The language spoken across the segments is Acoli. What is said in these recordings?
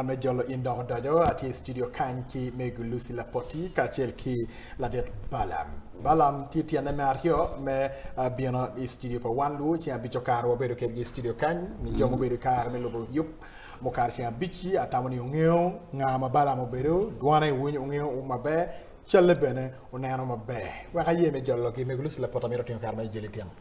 Me jolo in dok odoco. Atye i studio kany ki mego Lucy Lapoti kacel ki ladit Balam. Balam tye tyene me aryo me ah, bino i studio pa wan lwu ceng abic okato wabedo kedgi i studio kany ni jo mubedo i kare me lubo yub mukato ceng abic-ci atamo ni ongeyo nga ma Balam obedo, dwane iwinyo, ongeyo um maber, calle bene oneno maber. Wek aye me jologi, mego Lucy Lapoti amito tingo kare ma ijoli tino.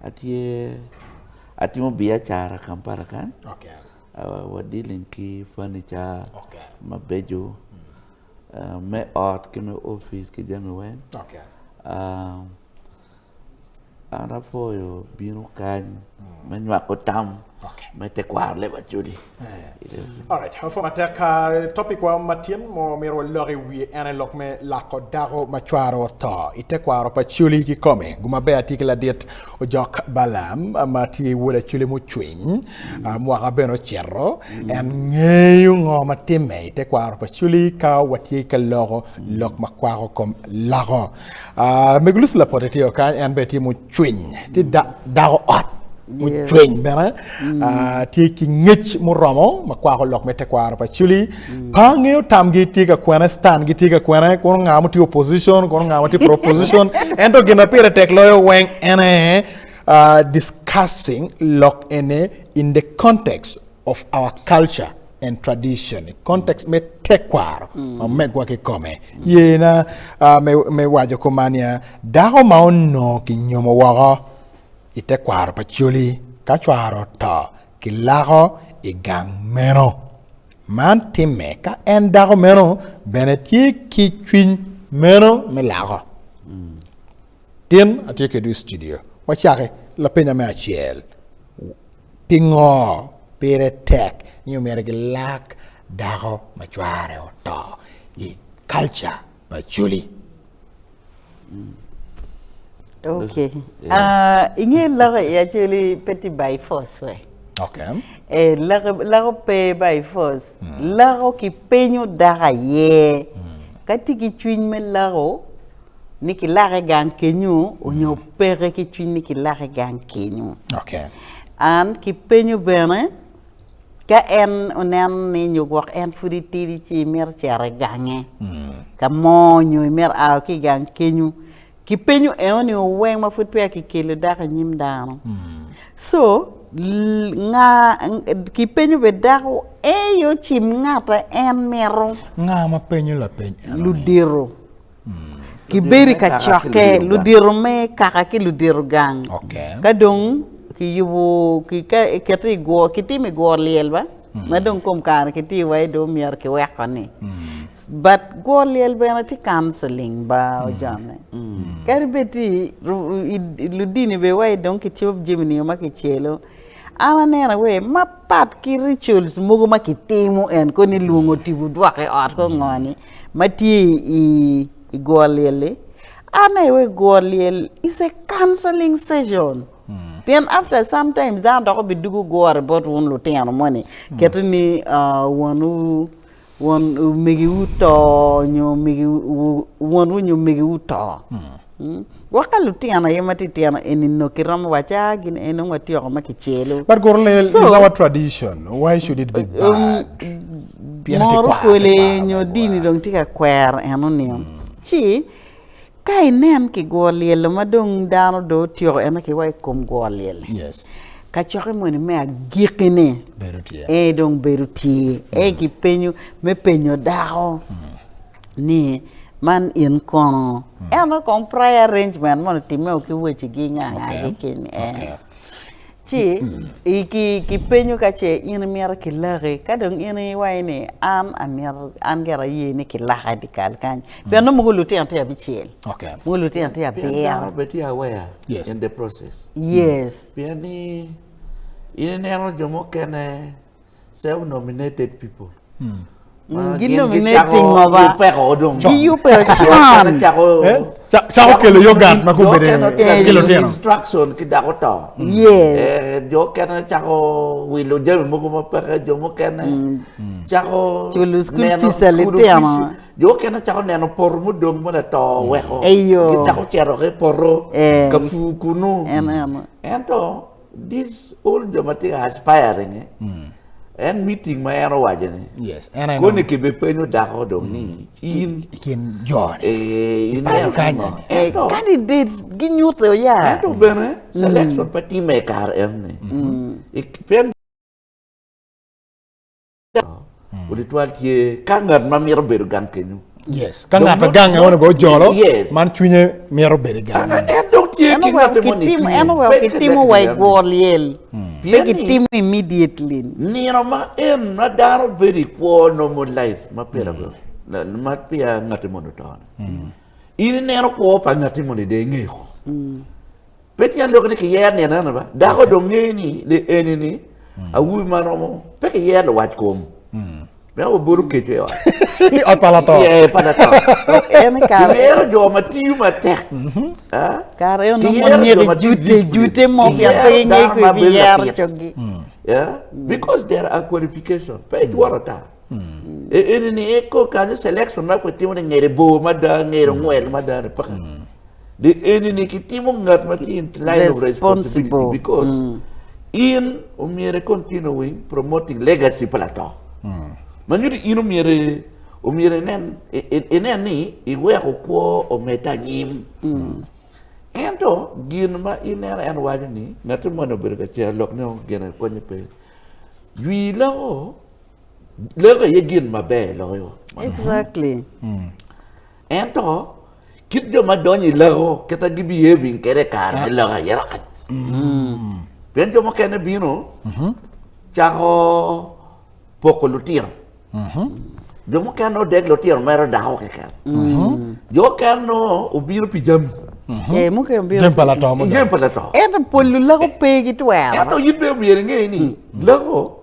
Atye atimo biacara Kampala kany wa dealing ki fanicha mabeco me ot ki me opic ki jami weng an apwoyo bino kany me nywako tam. Okay. Ma tekwaro leb acudi. Eh. Alright, Hafo matek ka topic wa matin mo miro walok i wiye en e lok me lako dako ma cwaro to. I tekwaro pa Culi ki kome, gumaber atye ki ladit ojok Balam ma tye wod Aculi mucwiny. Ah, mwaka bene ocito. En ngeyo ngo ma timme i tekwaro pa Culi ka watye ka loko lok ma kwako kom lako. Uh, mego Lucy Lapote tye kany, en bene tye mucwiny, tye da, dako ot mucwiny bene mm. ah, tye ki ngec muromo ma kwako lok me tekwaro pa culi mm. pa ngeyo tamgi tye ka kwene stan gi tye ka kwene kono nga ma tye opposition kono nga ma tye proposition ento gin ma pire tek loyo weng ene ah, discussing lok ene in the context of our culture and tradition i context me tekwaro ma omegwa kikome. Yena ah, me, me waco koma niya, dako ma onongo kinyomo woko i tekwaro pa coli ka cwaro oto, kilako i gang meno. Man timme ka en dako meno bene tye ki cwiny meno me lako. Tin atye kedu i studio. Wacaki lapenya me acel. Pingo pire tek ni omyero gilak dako ma cware oto i kalca pa Acholi? Ok, i nge lako i Acholi pe tye by force we? Ok. Lako pe by force, lako kipenyo dako aye ka tye ki cwiny me lako. ni kilake gang kenyo onyo peke ki cwiny ni kilake gang kenyo an ki penyo bene ka en oneno ni nyo gwok en pud itidi ci imito cito i gange ka mo nyo imito a ki i gang kenyo ki penyo eno ni oweng ma pud peya ki kelo dako i nyim dano so nga ki penyo bene dako eyo cim ngate en mito ludito. Kibedo i kacokke, ludito me kaka ki ludito gang. Ka dong kiyubo kiketo i gwo, kitimo i gwo lyel ba ma dong kom kare kitye wa iye myero kiwekoni. But gwo lyel bene tye counselling ba ojone. Kadi bed ti i ludini bene wa dong kicebo jami nio ma kicelo. An aneno aye mapat ki rituals mogo ma kitimo en koni lwongo tipo dwoko i ot ko ngo-ni. ma tye i i gor lyel-li an aye i gor lyel is a counselling session pien after some times dano dok obidugo gure bot wun lutino moni kiti ni wonwu won omegiwu to nyo omegiwu wonwu nyo omegiwu to Gwok ka lutino aye ma titino eni nok ki romo wa ca gin en nongo atyoko ma ki celo. But Gorlel so, is our tradition. Why should it be um, bad? Um, moro kwele nyo dini dong tye ka kwero en onio. Mm. Ci ka inen ki gwo lyelo ma dong dano do tyoko ene ki wa i kom gwo lyel. Yes. Ka coke moni me agiki ni. Bedo tye. E dong bedo tye. Mm. E ki penyo me penyo dako. Mm. ni, Man in kono? Ento kong prayer arrangement mono otimme o ki wecigi nge angagi ki ni en. Ci kipenyo ka ce in imito kilaki, ka dong in iwaco ni an amito an gire aye ni kilaka i dye kal kany, pien nongo mogo lutino tye abicel, mogo lutino tye abiro. self nominated people Mm, gi nominating ngo ba? peko dong Giyube ocon. cako Eh, ca- cako kelo yogat ma gubedo jo kene tye ki lutino. instruction ki dako to Yes. Eh, jo kene cako wilo jami mogo ma peke jo mukene cako Mm. Culo school neno fees a school litino. fees. jo kene cako neno poto mudong ma lato weko Eyo. gicako cito ki poto Eh. kapu kunu En eno. ento These all jo ma tye ka aspiring en meeting ma en owaco ni Yes, en aye koni kibe penyo dako dong ni in i kin jo ni. eh, ineno Paro kanya kanya ni. ento Candidates ginyuto ya. ento bene selection pe timme i kare eno ni Ik- pien Litwal tye ka ngat ma mito bedo gang kenyu. Yes. Ka ngat ma gange wano go jolo, man cwinye mito bedo i gange. En dong tye ki ngate mo ni cwinye. En oweko kitimo wa i gwo lyel. Pe kitimo immediately. Nino ma en ma dano bedo i kwo nongo life ma pire go. Ma peya ngati moni oto-ni. In ineno kwo pa ngati moni dong ingeko. Pe tye lok ni kiyer nino eno ba. Dako dong nge ni le eni ni awubi ma romo pe kiyer luwac kom. Mea wabolo keco i ot. Ot pa lato. Ye pa lato. En kare. Kiyero jo ma tiyo matek. Kare eno mo Kiyero jo nyeko ma tye jute discipline. jute mo pien pe Kiyero gingeyo dano kwe ma bedo biyero lapit. cogi. Yeah, because there are qualification. Pe iworo ata. Eni ni eko kany selection ma kwe timo ni ngeri bor mada, ngeri mm. ngwel mada ni paka. Mm. Di eni ni kitimo ngat ma tye in line of responsibility because mm. in omyere continuing promoting legacy pa lato. Mm. Ma nyuti in omyere omyere nen inen ni iweko kwo omete anyim. Mm. Ento gin ma ineno en waco ni ngati moni obedo ka cero lok ni gene konye pe. Ywi loko Lego aye gin maber loyo. Exactly. Mm. Ento kit jo ma donyo i lego kita gibehaving kede kare me lego aye rac. Mm. Pien jo mukene bino mm-hmm. cako poko lutino. Mm-hmm. Jo mukene odeg lutino mero dako keken. Mm-hmm. Jo mukene obino pi jami. Mhm. Eh, mukene bino jempa la tomo jempa la to ento pol lulago pe gitwero ento yit be omyero ing'e ni mhm. lago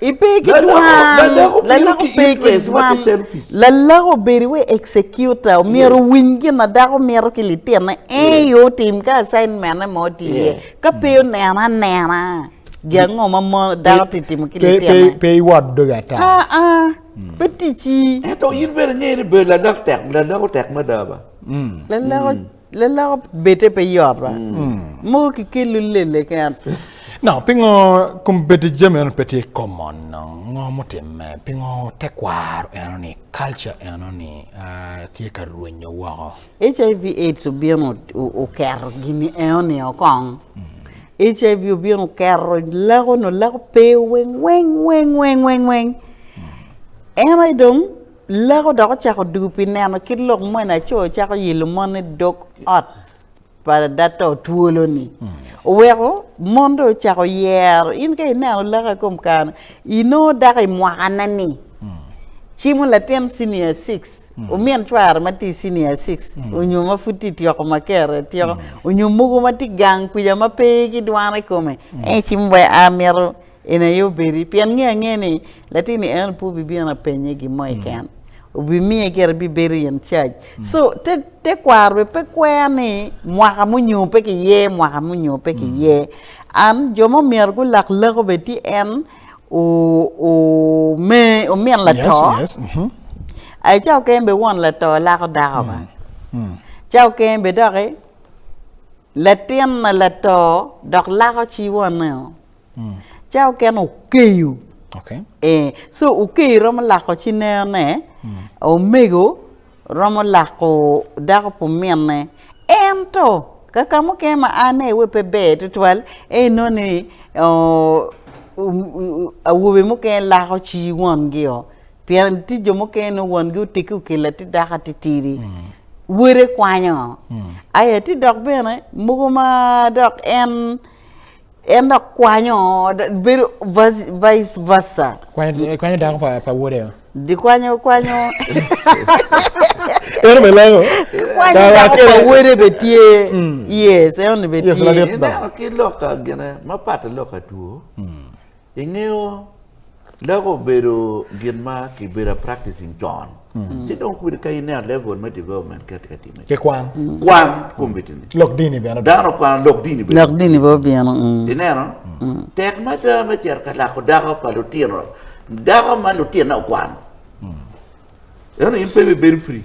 I peke twal, lalak obedo twal, lalak obedo iye executor omyero owiny gin ma dako mito ki litine eii otim ka assignment mo tye iye ka pe oneno anena gi ango ma dako tye ka timo ki litine pe iwot dogi ata aa pe ticci. Ento in bene ingeyo ni bene lalak tek lalak otek mada ba. Lalak Laloko bete pe yot ba. Mm. Mo ki kelo lele ken. No, pingo kombeddi jami eno pe tye i kom mono? Ngo mutimme? Pingo tekwaro eno ni, culture eno ni, ah, tye ka rwenyo woko? HIV AIDS obino oketo gini eno ni okong. HIV obino oketo lako no lako pe weng weng weng weng weng weng. Eno aye dong Leko dok ocako dugu pi neno kit lok mo naco cako yelo mon i dog ot pa dato twolo-ni. Oweko mon dong ocako yero. In ka ineno leka i kom kare-ni, inongo dako i mwakane-ni cimo latin cinia six, omin cware ma tye i cinia six nyo ma pud tye ka tyeko makere atyeka nyo mogo ma tye gang kwija ma pe ki dwano i kome, en cimo wa amito. In aye obedi, pien ngeyo angeya ni latin ni eno pe obibino a penye gin mo keken, obimiye gire ebibedo in charge. So te te kwaro bene pe kwer ni mwaka munyo pe ki ye mwaka munyo pe ki ye and jo ma omyero gulak lako bene tye en o o me omin lato aye ca okene bene won lato lako dako ba ca okene bene doki latin lato dok lako ci woneo. ca okene okeyo ee so okeyo romo lako cineo ne omego romo lako dako pa ominne ento kaka mukene ma a ne iye pe ber tutwal en inongo ni awobe mukene lako ci wongi oo pien tye jo mukene ma wongi otegi okelo atir dako atitidi wode kwanyo aya tye dok bene mogo ma dok en En dok kwanyo bedo vice versa. Kwanyo kwanyo dako pa pa wode. Di kwanyo kwanyo. Eno me lego. Kwanyo dako pa wode be tye. Mm. Yes, eno be tye. Yes, ladit ba. Ineno ki loka gine mapat loka two. Mm. Ingeyo lego obedo gin ma kibedo a practicing con ci dong kudi ka in a level me development kit ka time ki kwan kwan kombiti ni lok dini bene odok. dano kwan lok dini bene Lok dini bene obino. mm. ineno tek mada me cito ka lako dako pa lutino dako ma lutine okwano eno in pe ibibedo free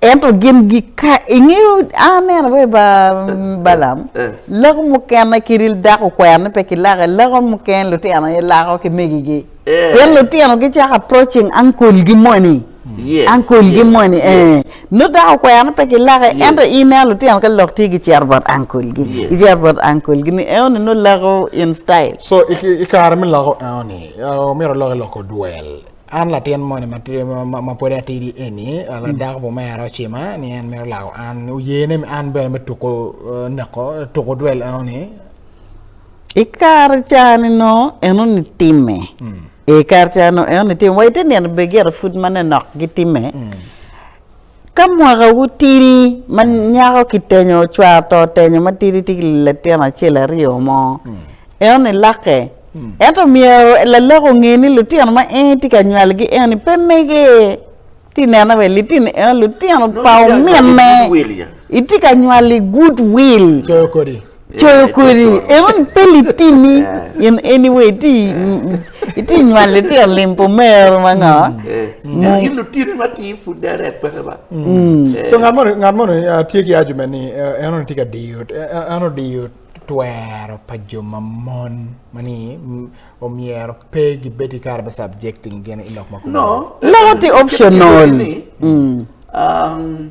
Ento gin gi ka ingeyo aneno be ba balam eh. lako mukene ki ril dako okwero ni pe ki lake lako mukene lutino aye lako ki megi gi eh. pien lutino gi chaka approaching uncle gi moni yes. uncle yes. gi moni yes. eh no dako okwero ni pe ki lake yes. ento ineno lutino ka lok tye gi cero bot uncle gi yes. gi cero bot uncle gi ni eo ni no lako in style so ikare me lako eo ni omiro loko iloko duel An latin moni ma pwod atidi eni, ladako pa omera ocima ni en mito lako an, oyene an bene me tuko eh, neko, tuko dwel enoni. I kare cani nongo eno ni timme. Hmm. I kare cani nongo eno ni timme. Wa ite nino begera pud ma nenok gitimme. Hmm. Ka mwaka otidi ma nyako kitenyo cware oto otenyo matidi tye ki litino acel aryo mo eno ni lakke ento myero lalok onge ni litino ma en tye ka nywalo gi eno ni pe mege tye neno wa litino eno litino pa ominne itye ka nywali good will. Coyo kodi en pe litini in anyway iti iti nywal litino lim pa omero ma ngo. Eno in lutini ma ti pud dere et peke ba. So ngat moni ngat moni ah, tye ki argument ni eh, en oni tye ka diyo eh, eh, en odiyo twero pa jo ma mon ma ni mm, omyero pe gibed ki kare me subjecting gin i lok ma kuno. No. Loko ti optional. Kit-ti ni, um,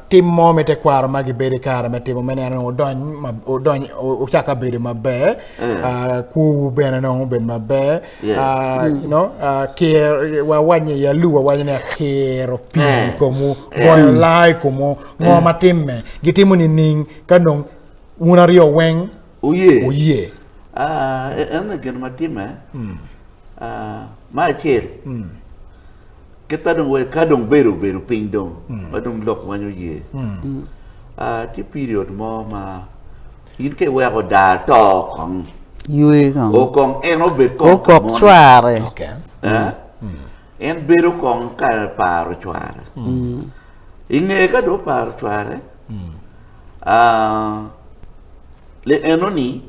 Tim mo me tekwaro ma gibedo i kare me timo mene eno odony, odony ocak ka bedo maber, yeah. uh, kwowu bene nongo obed maber. Yes. Uh, mm. you know, uh, ker wawanye ya lu wawanye ni akero pii yeah. komu, goyo yeah. lai komu, ngo yeah. ma timme. Gitimo ni ning ka nong un aryo weng oye. Oye. Ah, uh, e, en gin ma timme. Mm. Uh, ma acel. Mm. kit ma dong wee ka dong bedo obedo piny dong ma dong lok wanyo ye ah tye period mo ma in ka iweko daa to kong Ywe kong. o kong en obed kong O kok kamone. cware. Okay. Ah, en bedo kong ka paro cware i nge ka dong oparo cware ah le enoni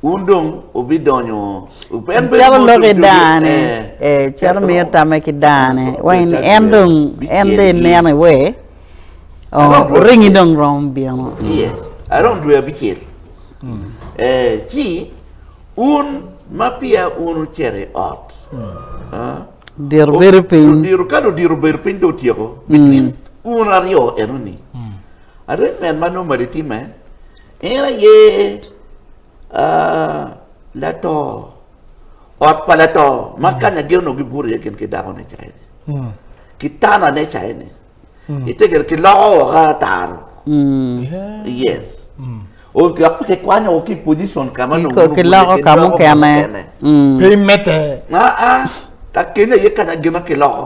Un dong wubidonyo Calo lok i dane, ee, calo miyo tamme ki dane, wa in, en dong, en dong ineno iwe, oo, ringi dong romo bino. Yes, aromo dwe abicel. Ee, ci un ma peya un wucito i ot, ah, Diro bedo piny. ludiro, ka ludiro bedo piny dong otyeko, bitwin un aryo enoni, arrangement ma normally timme, En aye lato ot pa lato ma kanya gin onongo gibuto iye gin ki dakone cayi ni ki tanane cayi ni ite gire kiloko woko ataro yes dok pe kikwanyo woko ki position ka ma nongo kiloko ka mukene pe imete aa ka keni aye kanya gin ma kiloko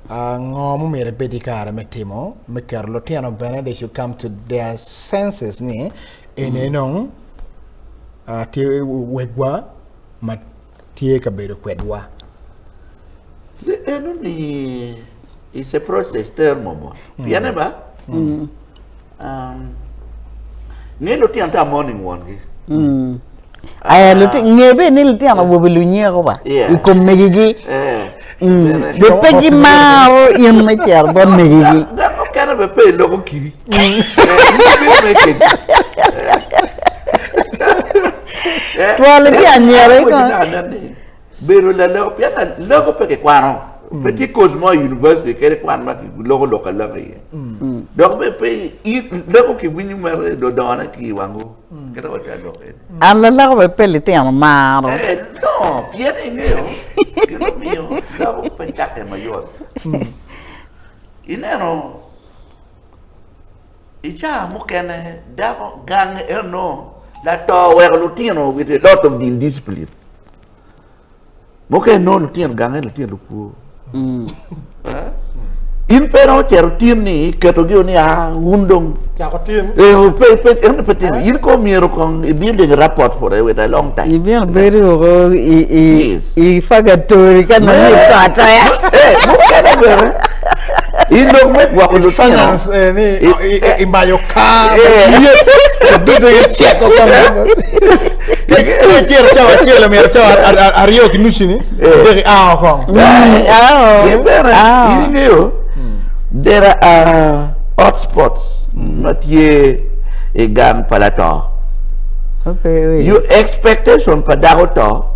Ango ma omyero ibed ki kare me timo me keto lutino bene they should come to their senses ni eni mm. nong uh, tye wegwa ma tye ka bedo kwedwa eno ni is a process termo mo mm. pien ba mm. Nge lutino ta morning wongi. Mm. Aya ah. luti ngebe ni lutino awobe lunyeko ba i kom megigi. Eh. Mm. Be pe gi maro in me cero bot megigi. Kene be pe loko kiri. Mm. Eh, Twali ki anyere ko. Bedo laleko pien laleko pe kikwano pe tye course mo i university kadi kwan ma kiloko lok alaka iye dok bene pe leko kiwinyo mere ludongone ki i wango kite wa ta lok eni An laleko bene pe litino maro. eh no pien ingeyo gin ma miyo leko pe cakke mayot ineno I caa mukene dako gang eno lato weko lutino with a lot of indiscipline. Mukene no lutino gang eno lutino lukwo. Mm. Eh? in pe dong ocero tin ni iketogi ni a ah, un dong cako tin eh pe pe en pe tin in ko miro kong i building rapport for a with a long time ibiro bedi oko i i I pagatori ka nongo i tota. Mukene bene. I lok me gwoko lutino. I mayo kar. Dudu i ceko ka mo. Cero cawa acel omyero cawa aryo ki nuci ni. Dek i awa kong. Gin bene. Ini ngeyo. There are hotspots ma tye i gang pa lato. Your expectation pa dako to.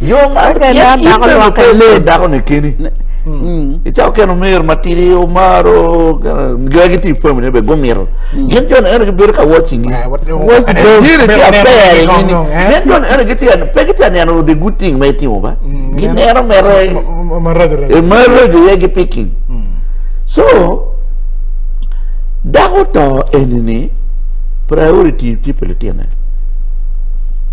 Yo man kene dako lwokke i lee dako ni keni. Ica okeno mer matidi omaro gina giti i family ne be gumito. Gin jon eno gibedo ka watching. Gini ti aber i nyimi. Gin jon eno giti pe giti aneno the good thing ma itimo ba. Gineno mere marajo ye gi picking. So dako to eni ni priority ti pi litine.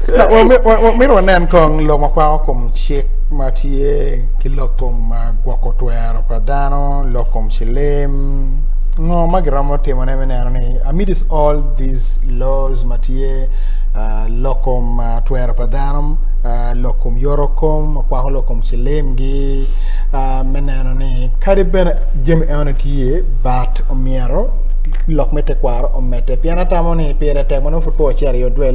Myero wanen kong lok ma kwako kom cik ma tye ki lok kom gwoko twero pa dano, lok kom cilim. Ngo ma giromo timone me neno ni amidst all these laws ma tye, lok kom twero pa dano, lok kom yoro kom ma kwako lok kom cilimgi me neno ni kadi bene jami enoni tye but omyero lok me tekwaro omedde pien atamo ni pire tek ma nongo pud pe wacito i odwel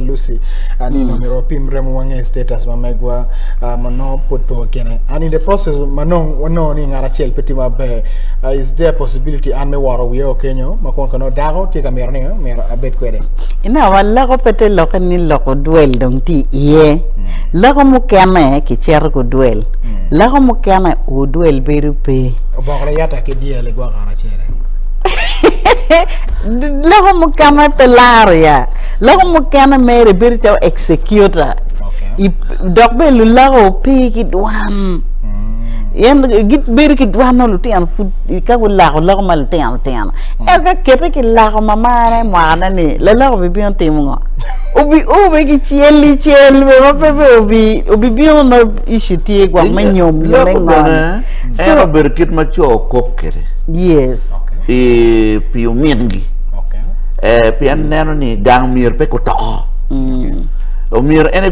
Eni mm. ma myero wapim remo wange status ma megwa uh, ma nongo pud pe wakene and in the process ma nongo wanongo ni ngat acel pe tye maber uh, is there possibility an me woro wiye okenyo ma kun kano dako tye ka miro ni miro abed kwede ina wa lako pe te loke ni loko dwel dong tye iye mm. lako mukene kiceto ku dwel mm. lako mukene o dwel bedo pe obokre yata ki dyel igwakara cere lako mukene pe laro ya Loko mukene mere bedo calo executor dok bene lulako pe ki dwan pien gibedo ki dwan nongo lutino pud ka gulako lako ma litino tino ento ka kete ki lako ma marane mwakane ni lalako bibino timo ngo obi o bene ki cel licel bene ma pe bene obi obibino ma issue tye gwok me nyom nyo me ngo ni en obedo kit ma co okok kwede pi omingi. pien neno ni gang omyero pe kutoko omyero en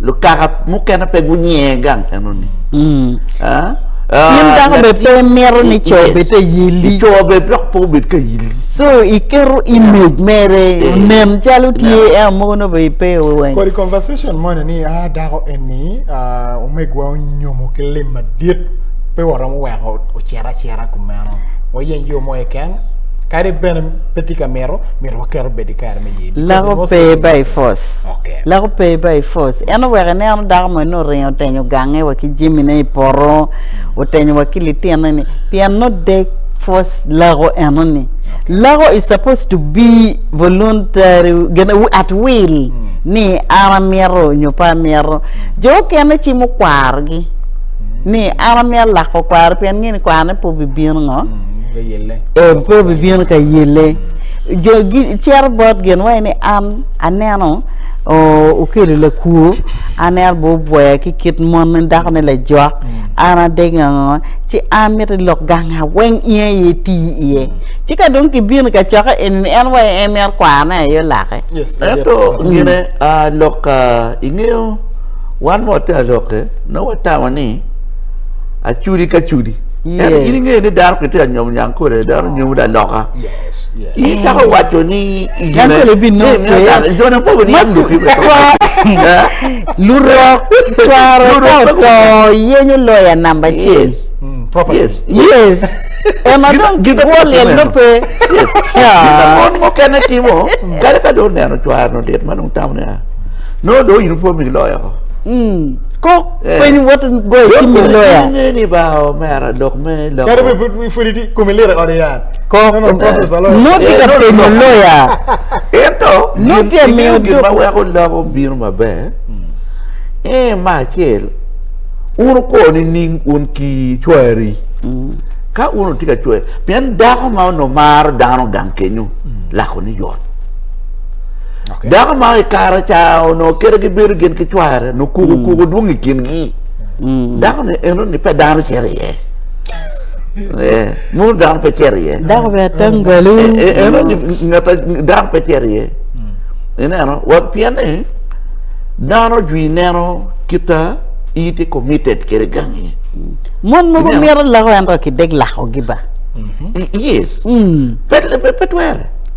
lukaka mukene pe gunye gang enoni in dako be pe mito ni co be te yili co be dok pe obed ka yili so iketo imej mere nen calo tye en mogo no be pe weng kodi conversation mone ni a dako eni omegwa onyomo ki lim madit pe waromo weko ocera cera kumeno wayeny yo mo keken kadi bene pe tye ka mito myero waket obed kare me ye lako pe ba i pos lako pe ba i pos en oweko ineno dako mo ni oringo otenyo gange wa ki jami ne i poto otenyo wa ki litine ni pien nongo dek pos lako eno ni lako is suppose to be voluntary gin at will ni an amito nyo pe amito jo mukene cimo kwar gi. ni an amito lako kwaro pien ngene kwarone pe obibino ngo pe obibino ka yelle cito bot gin waci ni an aneno okelo lakur aneno bene obwoya ki kit mone dako ne lajok an adegi ango ci an miti lok gang nga weng in aye iti iye ci ka dong kibino i kacokke eni ni en waci en mito kwarone aye olake. Wan ma watye ka lokke nongo watamo ni acudi ki acudi. Ento in ingeyo ni dano kitye ka nyomo nyang kole, dano nyomo laloka. Icako waco ni Nyang kole bino kwe. Jone opobo ni yam luki me to. Lurok twaro ka oto yenyo loya namba acel. Yes. Ema dong gigwolye lope. Mon mukene timo kadi ka dong oneno cware nonit ma dong tamo ni nongo dong in opwo migi loya ko kok piny wot goyo cim mi loya nge ni ba omera lok me lok kare be pud pud iti kumi liro odi yan kok process ba loya no ti ka penyo loya ento no ti miyo gin ma weko loko bino maber e ma acel un ko ni ning un ki cwari ka un ti ka cwer pien dako ma ono maro dano gang kenyo lako ni yot Okay. Dako ma i kare ca onongo kite gibedo gin ki cware, no kuku mm. kuku dwong i kingi. Mm. Dako ni eno ni pe dano cere iye. Eh, Mun dano pe cere iye. Dako pe atangalu. Eh, eh, eno ni ngata dano pe cere iye. Mm. Ineno, wa pien ni dano jwi neno kita iti committed kere gangi. Mon mogo miro lako ento ki deg lako giba. Mm-hmm. Yes. Mm. Pe pe pe twere.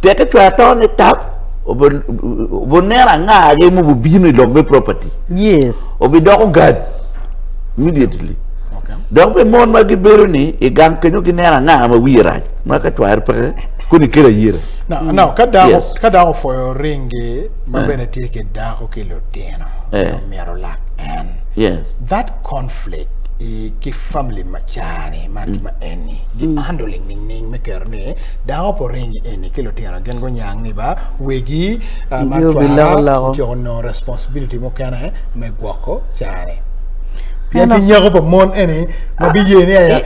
Teke cwaya to ni tap obuneno anga agi ma obubino i lok me property. Yes. Obidoko gad immediately. Okay. Dok be mon ma gibedo ni i gang kenyo gineno anga ma wiye rac ma ka cwayar peke kuni kelo ayira. No, mm. no, ka dako yes. ka dako foyo ringi ma eh. bene tye ki dako ki lutino eh. yo myero lak en. Yes. That conflict i ki family ma cani man ki mm. ma enni gi mm. handling nining me kero ni Dako pa orengi eni ki lutino gin gunyango ni ba wegi ma cwara ociko nongo responsibility mukene me gwoko care. Pien ki nyako pa mon eni ma ah, biye ni aya.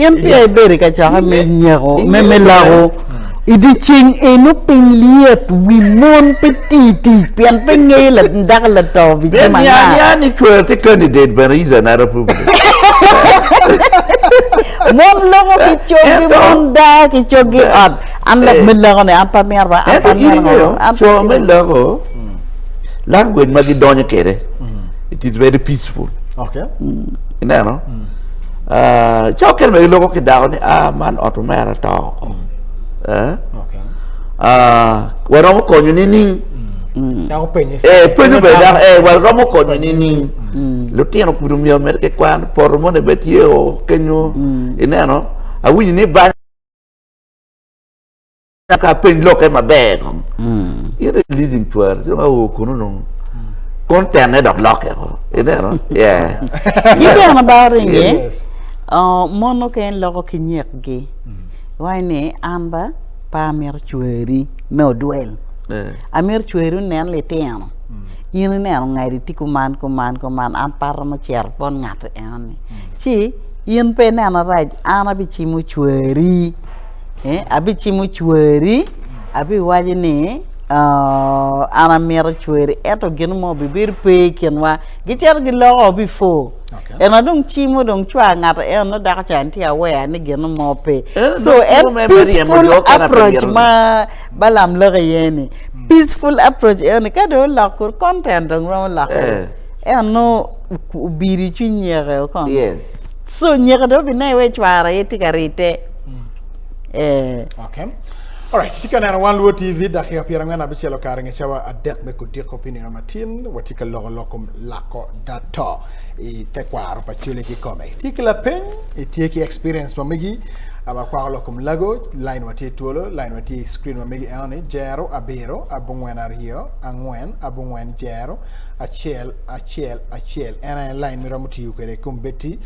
In pia ibedi ka coka me nyako me me lako. Idi cing eno piny liet wi mon pe titi pien pe ngeyo la dako lato bi Pien jami niya anga. niya ni cwera tye candidate bene is another problem. Mon loko ki coggi, Ento- mon daa ki coggi i ot. An lok Eh. me lokone an pe amito ba, an pe Ento in amito ingeyo ngo. An pe co me amito- loko language ma gidonyo kwede it is very peaceful. Okay. Ineno? Ah, co kene bene giloko ki dako ni ah man ot omera to oko. Eh? Okay. waromo konyo nining mm. eh, penyo bene dako eh, waromo konyo nining mm. lutino kudu myero med ki kwan poto mone bene tye o kenyo mm. ineno awinyo ni banya ka peny loke maber kong ire leasing twar kiro ma o kunu nung kon tenne dok loke ko ineno yeah yideno ba ringe oh, mon oken loko ki nyekgi wai ni an ba pe amito cweri me odwel amito cweri onen litino in ineno ngati tye kuman kuman kuman an pato me cito bot ngat enoni ci in pe inena rac an abicimo cweri abicimo cweri abiwaco ni oo an amito cweri ento gin mo bibedo pe i kinwa gicito giloko before. Ena dong cimo dong cwa ngato eo no dako ca en tye aware ni gino mo pe so en peaceful approach ma Balam loko iye ni peaceful approach eo ni ka dong olok kor content dong romo lokere eo no obido i cwiny nyeka eo kong so nyeka dong obi neno iwa i cwara aye tye ka rite Alright, itye ka neno Wan Luo TV, dakika pyerangwen abicel okaro nge cawa adek me kodiko pi nino matin. Watye ka loko lok kom lako da to i tekwaro pa cwale kikome itye ki lapeny itye ki experience ma megi ama kwako lok kom lago line wa tye twolo line wa tye i screen ma megi eno ni jero abiro abongwen aryo angwen abongwen jero acel acel acel eno aye line ma iromo tiyo kwede kom beti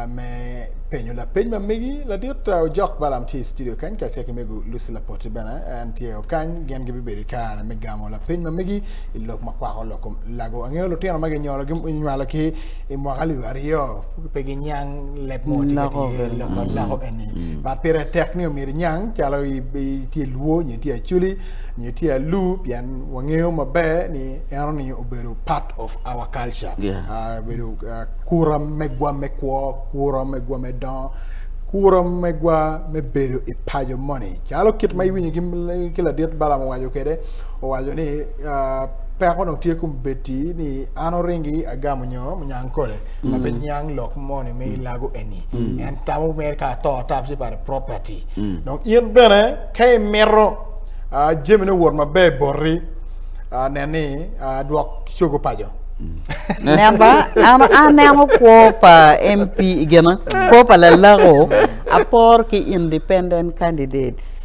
me penyo lapeny ma megi ladit ojok balam tye i studio kany kacel ki mego lucy lapoti bene en tye o kany gin gibibedo ikare me gamo lapeny ma megi i lok ma kwako lok kom lago. Angeyo lutino ma ginyolo ginywalo ki i mwaka alip aryo pe ginyang leb mo tye ka tye lok ma lako eni. Man pire tek ni omyero inyang calo itye luo nyo itye acoli nyo itye alu pien wangeyo maber ni eno ni obedo part of our culture. Obedo kura megwa me kwo, kura megwa me dongo, kura megwa me bedo i paco moni. Calo kit ma iwinyo ki ladit Balam owaco kwede owaco ni peko onongo tye kom Betty ni an oringi agamo nyo munyang kole ma pe nyang lok moni me lago eni en tamo mere ka ato atap ci pare property dong in bene ka imito ah, jami ne wot maber boti ah, nen ni ah, dwok cogo paco Nen ba, an aneno kwo pa MP gina, kwo pa lalako, apor ki independent candidates.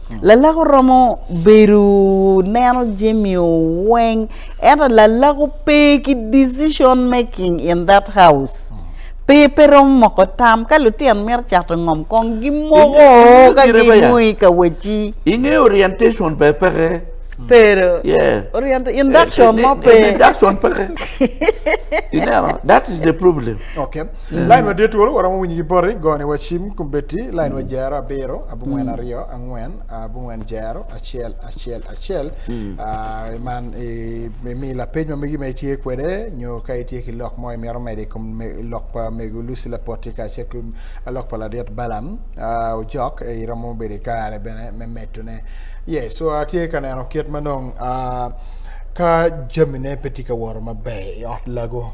Lalako romo bedo neno jami o weng ento lalako pe ki decision making in that house pe pe romo moko tam ka lutino mito cato ngom kong gi moko ka gi ngu i ka wacci inge orientation be peke pero orientation induction mo pe induction peke ineno that is the problem. Lain wa dit ol waromo winyo ki boti gone wa cim kun beti lain wa jero abiro abongwen aryo angwen abongwen jero acel acel acel man imi lapec ma megi ma itye kwede nyo ka itye ki lok mo imito medo ikom lok pa mego Lucy Lapoti kacel ki lok pa ladit Balam Ojok iromo bedo ikare bene me medo ne ye so atye ka neno kit ma nong ka jamine pe tye ka woro maber iot lago.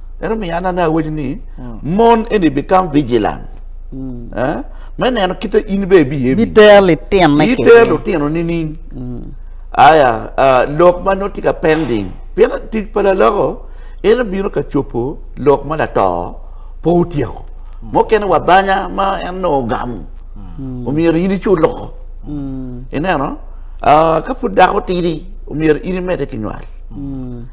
En omiyo an ane awaco ni mon eni become vigilant eh, me neno kite in be ibiye bi tero litinone bi tero lutino nining aya ah, lok ma nongo tye ka pending pien tic pa laloko en obino ka cobo lok ma lato pe otyeko mukene wa banya ma en nongo ogamo omyero in icul loko ineno ah, ka pud dako tidi omyero in imede ki nywal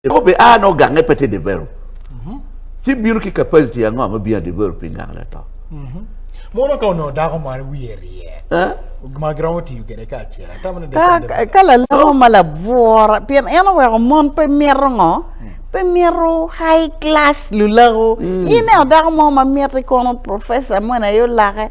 Kop bi a no gange pe tye develop. Ci bino ki capacity ango ma bino develop pi gang lato. Mono ka onongo dako ma wiye rye. Ma giromo tiyo kwede kacel. Ka lalamu ma labwora pien en oweko mon pe mito ngo? Pe mito high class lulaku. Ineno dako mo ma miti kono professor moni aye olake.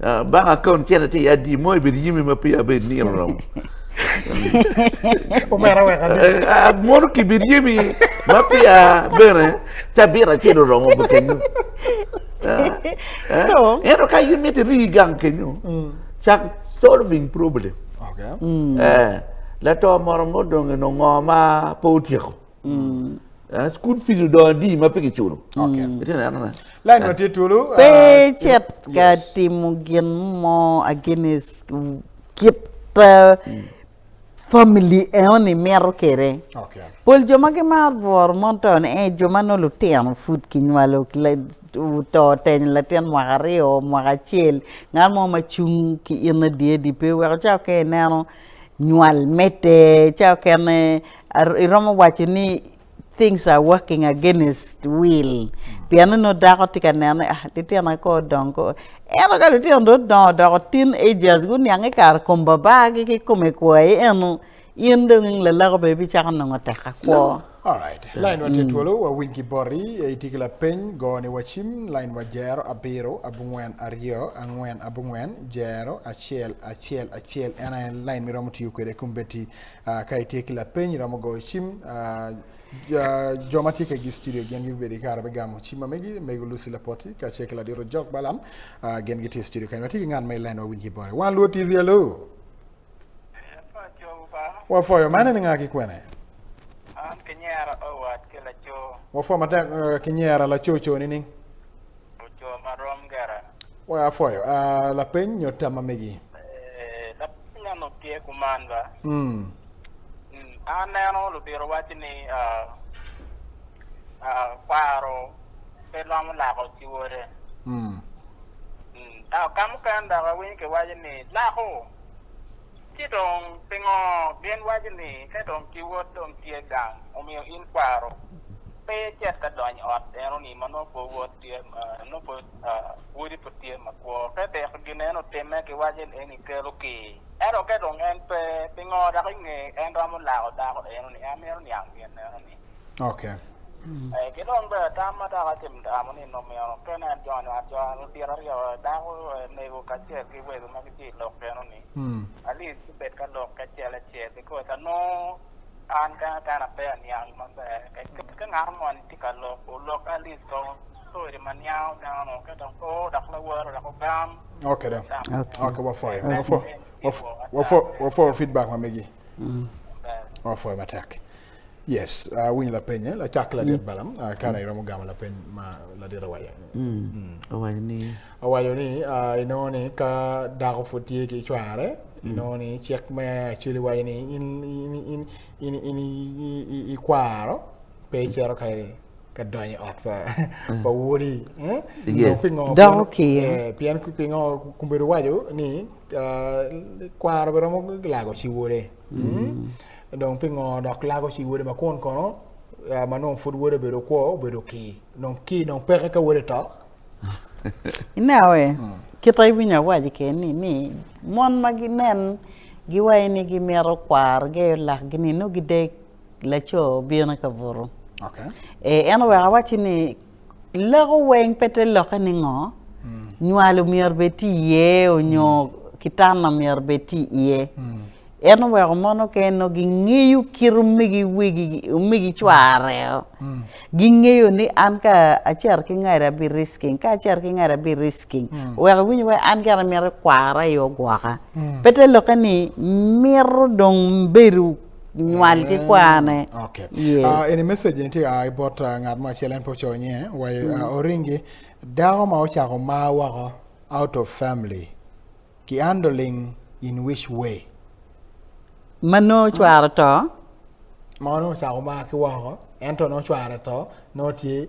bank account cene tye adi mo i bed yimi ma peya bed ni rom omera wek adi mono ki bed yimi ma peya bene tabira celo romo be kenyo ento ka in miti ri gang kenyo cak solving problem lato moro mo dong ngo ma pe otyeko Ah, school fees odong adi ma pe kiculo? Okay. Itye neno na? Lain wa tye twolo. ah, Pe in- cet ka Yes. timo gin mo against kit ah, family eoni mito kwede. Okay. Pol jo ma gimaro bworo mon to ni eh, jo ma nongo lutino pud kinywalo ki la- oto otenyo latin mwaka aryo, mwaka acel, ngat mo ma cung ki in adyedi pe weko ca ka ineno nywal mede ca okene iromo waco ni things are working against will pien ni nongo dako tye ka neno ni ah litina kong odong kong ento ka litino dong odongo odoko teen agers guniang ki kare kom babagi ki kom ekwai eno in dong in lalako bene ibicako nongo tek akwo. Alright, lain wa tye twolo wa wil ki boti e itye ki lapeny go ni wa cim lain wa jero abiro abungwen aryo angwen abungwen jero acel acel acel en aye lain mi romo tiyo kwede kumbeti ka itye ki lapeny iromo goyo cim jo ma tye kegi studio gin gi bedi kare me gamo cim ma megi mego Lucy Lapoti ka ce ki ladito Jok Balam gin gitye studio kany wa tye ki ngat ma i lain wa wil ki boti wan luo TV alo Wapwoyo man en nga ki kwene? An ki nyera Owad ki laco. Wapwoyo matek eh, ki nyera laco co nining? Oco ma rom gera. Wa apwoyo. Ah, lapeny nyo tam amegi? Eh, lapeny an opye kuman ba. Mm. Mm, aneno ludito waco ni ah, ah, kwaro pe romo lako cwore. Ka mukene dok awinyo kiwaco ni, 'Lako! Ci dong pingo gin waco ni, 'Ka dong kiwot dong tye gang, omiyo in kwaro, pe icit ka donyo i ot enoni ma nongo pud wodi pud tye makwo? Ka dok gin eni otimme, kiwaco ni en ikelo ki. Ento ka dong en pe, pingo dok inge en romo lako dako enoni? En mito niang gin enoni. Okay. Mm. Eh, ki dong bene tam ma dok atim tamo ni nongo myero ken en jony wat jo ludito aryo dako eh, nego kacel ki wego ma gitye i lok keno ni Mm. alis gibed ka lok kacel acel because anongo an kena kena pe aniang maber Ka- ka- ka ngat mo ni tye ka lok olok alis kong story ma niango dano ka dong po dok laworo dok ogam Okay da. tam Okay. Okay, wapwoyo. Wapwo- wapwo- Wapwo wapwo feedback ma megi. Opwoyo matek. Yes, awinyo lapenye, lacak ladit Balam, kara iromo gamo lapeny ma ladit awaco. Awaco ni? Awaco ni, inongo ni ka dako pud tye ki cware, inongo ni cik me acweli waco ni in ikwaro pe icito ka ka donyo ot pa pa wodi eh? Yes. Dok pingo Dok pien- okiyo. eh, pien pingo kumbedo waco ni ah, kwaro be romo lago ci wode Mm. dong pingo dok lago ci wode ma kun kono ah, ma nongo pud wode obedo kwo obedo ki dong ki dong peke ka wode to Inawe, kita iwinyo awaci keni ni, ni mon ma ginen giwaci ni gimito kwargi lakgi ni nongo gidek laco bino ka butu ee en oweko awacci ni leko weng pe te lokke ni ngo mm. nywal omyero bed ti iye onyo mm. kitana omyero bed ti iye mm. en oweko mon okene no gingeyo kit omigi wigi omigi cwareo mm. gingeyo ni an ka acer ki ngade abi risking ka acer ki ngade abi risking mm. weko winyo wai an gene mito kwara i ogwoka mm. pe te lokke ni mito dong bedo nywal ki kwarne. Okay. Yes. Ah, eni message ni tye ka ai bot ah, ngat mo acel en pe ocoyo nyinge wa ah, oringi dako ma ocako mar woko out of family ki handling in which way Ma nongo ocwaro to. ma onongo ocako mar ki woko ento nongo cware to nongo tye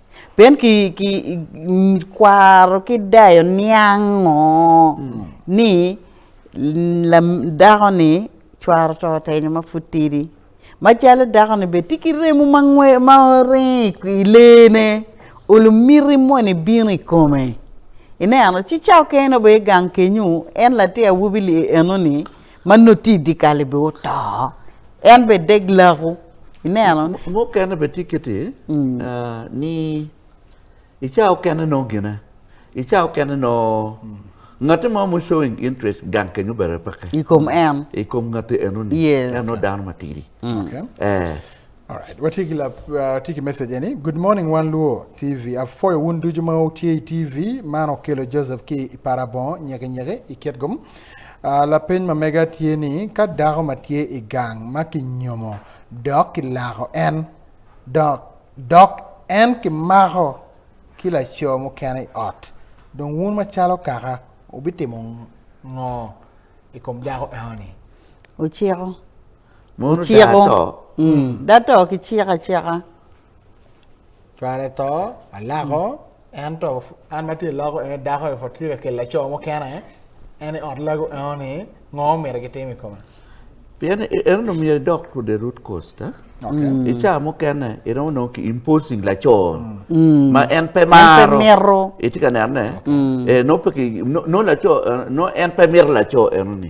pien ki ki kwaro ki dayo niango mm. ni lam dako ni cwaro to otenyo ma pud tidi macalo dako ni bene tye ki remo ma ngwe ma ringo i lene olo miti moni bino i kome ineno ci ca okene obedo i gang kenyu en latin awobi li enoni Ma nongo tye i dyekal ibi oto, en bene deg laku. Ineno? Mukene bene tye kiti ni i cawa okene nongo gine, i cawa okene nongo ngati mo ma showing interest gang kenyo obere peke. I kom en. I kom ngati enoni. Yes. En nongo dano matidi. Okay. Eh. Alright watye ki lap tye ki message eni. Good morning wan Luo TV apwoyo wun ducu ma wutye i TV man okelo Joseph ki i para bongo nyeke nyeke i kit gum. Ah, lapeny ma mega tye ni ka dako ma tye i gang ma ki nyomo dok ki lako en dok dok en ki mako ki laco mukene i ot dong wun ma calo kaka wubitimo ngo i kom dako eno ni? Ociko kiciko da to kiciko acika twara to alako ento an ma tye iloko en dako ni pud tye ka kelo laco mukene en i ot lago eno ni ngo myero gitim i kome pien en onongo myero idok to the root cause ta i ca mukene iromo nongo ki imposing laco ma en pe maro itye ka nene nongo laco nongo en pe mito laco eno ni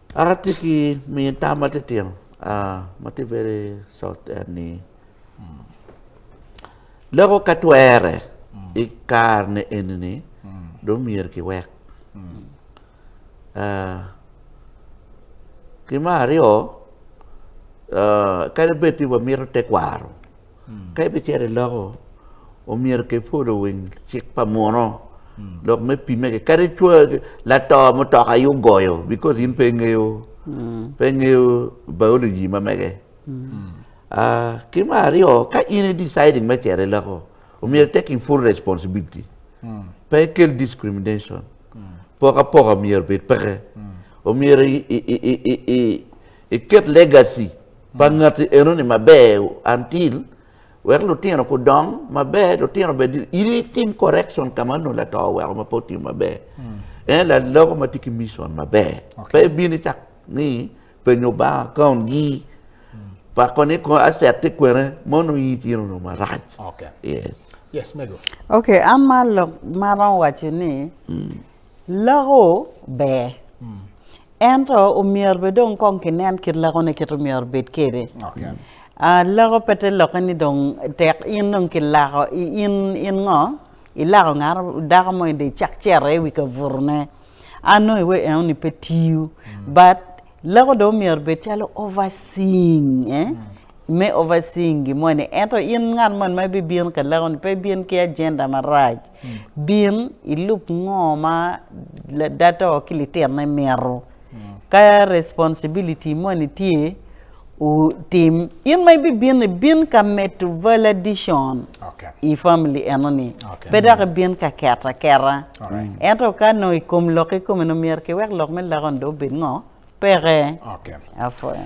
An atye ki miyo tam matitino ma tye very short en ni loko ka twere i kare eni dong myero kiwek ki me aryo kadi bed ni wamito tekwaro Ka ibicito i loko, omyero ki pud owiny cik pa muno lok me pime ki kadi cwa lato mutoka aye ogoyo because in pe ingeyo pe ingeyo biology ma mege. Ah, ki me aryo, ka in i deciding me cito i loko, omyero i taking full responsibility. Pe ikel discrimination. Poko apoka omyero obed peke. Omyero i, i, i, i, i, i ket legacy. pa ngati enoni maber until wek lutino ku dong maber lutino bed in i tim correction kama nongo lato oweko ma pe otimo maber en lalogo ma tye ki mission maber pe i bini cak ni penyo Obanga account gi pa koni asset tye kwene mono in itye nongo marac yes. Yes mego. Okay an ma lok ma aromo waco ni. Lako ber, ento omyero bene dong kong kinen kit lakone kit omyero obed kwede. Lako pe te lokke ni dong tek in dong kilako in in ngo ilako ngato dako mo dong icak cere i wi kabutone an dong iwee eno ni pe tiyo but lako dong myero obed calo over seeing eh me over seeing gin moni ento in ngat moni ma ibibino ka lako ni pe ibin ki agenda marac. Bin ilub ngo ma ladato ki litine mito. Ka responsibility moni tye, tim. In ma ibibino, ibin ka medo validation i family enoni, pe dok ibin ka keto aketa. Ento ka nongo i kom lok kikome nongo myero kiwek lok me lakoni dong obed ngo? Peke.